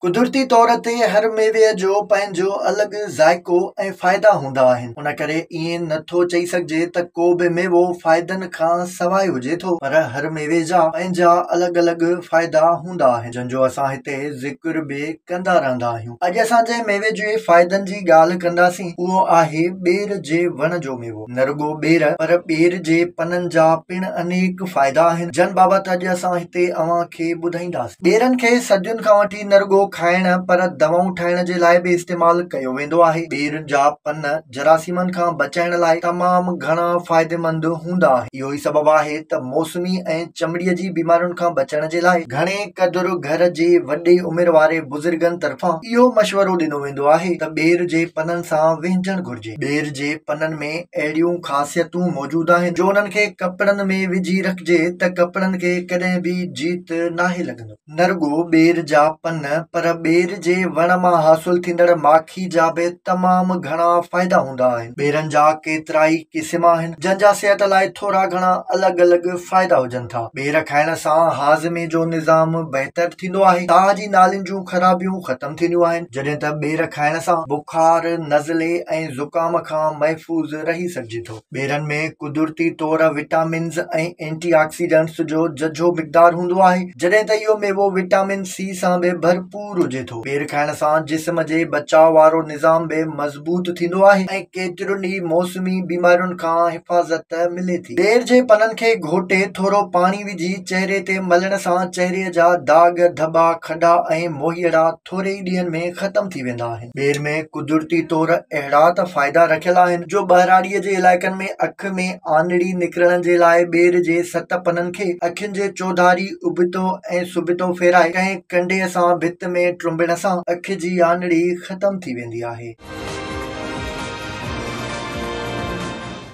قدرتي طور تي هر ميوي جو پنهنجو الڳ ذائقو ۽ فائدا هوندا آهن ان ڪري ائين نه ٿو چئي سگهجي ته ڪو به ميوو فائدن کان سواء هجي ٿو پر هر ميوي جا پنهنجا الڳ الڳ فائدا هوندا آهن جن جو اسان هتي ذڪر به ڪندا رهندا آهيون اڄ اسان جنهن ميوي جي فائدن جي ڳالهه ڪنداسين اهو آهي ٻير جي وڻ جو ميوو. نه رڳو ٻير پر ٻير جي پنن جا پڻ انيڪ فائدا آهن جن بابت اڄ اسان هتي اوهان کي ٻڌائينداسين. ٻيرن کي صدين کان وٺي نه رڳو کائڻ پر دوائون ٺاهڻ جي لاء به استعمال ڪيو ويندو آهي. ٻير جا پن جراثيمن کان بچائڻ لاء تمام گهڻا فائديمند هوندا آهن. اهو ئي سبب آهي ته موسمي ۽ چمڙي جي بيمارين کان بچڻ جي لاء گهڻي قدر گهر جي وڏي عمر واري بزرگن طرفان اهو مشورو ڏنو ويندو آهي ته ٻير جي پنن سان وهنجڻ گهرجي. ٻير جي پنن ۾ اهڙيون خاصيتون موجود آهن جو انهن کي ڪپڙن ۾ وجهي رکجي ته ڪپڙن کي ڪڏهن به جيت ناهي لڳندو. نه رڳو ٻير جا پن پر ٻير جي وڻ مان حاصل ٿيندڙ ماکي جا به تمام گهڻا فائدا هوندا آهن. ٻيرن جا ڪيترائي قسم آهن جن جا صحت لاء ٿورا گهڻا الڳ الڳ فائدا هجن ٿا. ٻير کائڻ سان هاضمي جو نظام بهتر ٿيندو آهي. ساهه جي نالين جون خرابيون ختم ٿينديون آهن. جڏهن ته ٻير کائڻ سان بک بخار، نزلي ۽ زڪام کان محفوظ رهي سگهجي ٿو. ٻيرن ۾ قدرتي طور وٽامنز ۽ اينٽي آڪسيڊنٽس جو ججهو مقدار هوندو آهي، جڏهن ته اهو ميوو وٽامن سي سان به ڀرپور هجي ٿو. ٻير کائڻ سان جسم جي بچاء وارو نظام به مضبوط ٿيندو آهي ۽ ڪيترين ئي موسمي بيمارين کان حفاظت ملي ٿي. ٻير جي پنن کي گهوٽي ٿورو پاڻي وجهي چهري تي ملڻ سان چهري جا داغ، ڌٻا، کڏا ۽ موهيئڙا ٿوري ئي ڏينهن ۾ ختم ٿي ويندا آهن. ٻير ۾ قدرتي طور اهڙا ته فائدا رکيل آهن جو ٻهراڙيء جي علائقن ۾ اک ۾ آنڙي نڪرڻ جي لاء ٻير جي ست پنن کي اکين جي چوڌاري اڀتو ۽ سڀتو ڦيرائي ڪنهن ڪنڍيء سان ڀت ۾ ٽرنبڻ سان اک جي آنڙي ختم ٿي ويندي آهي.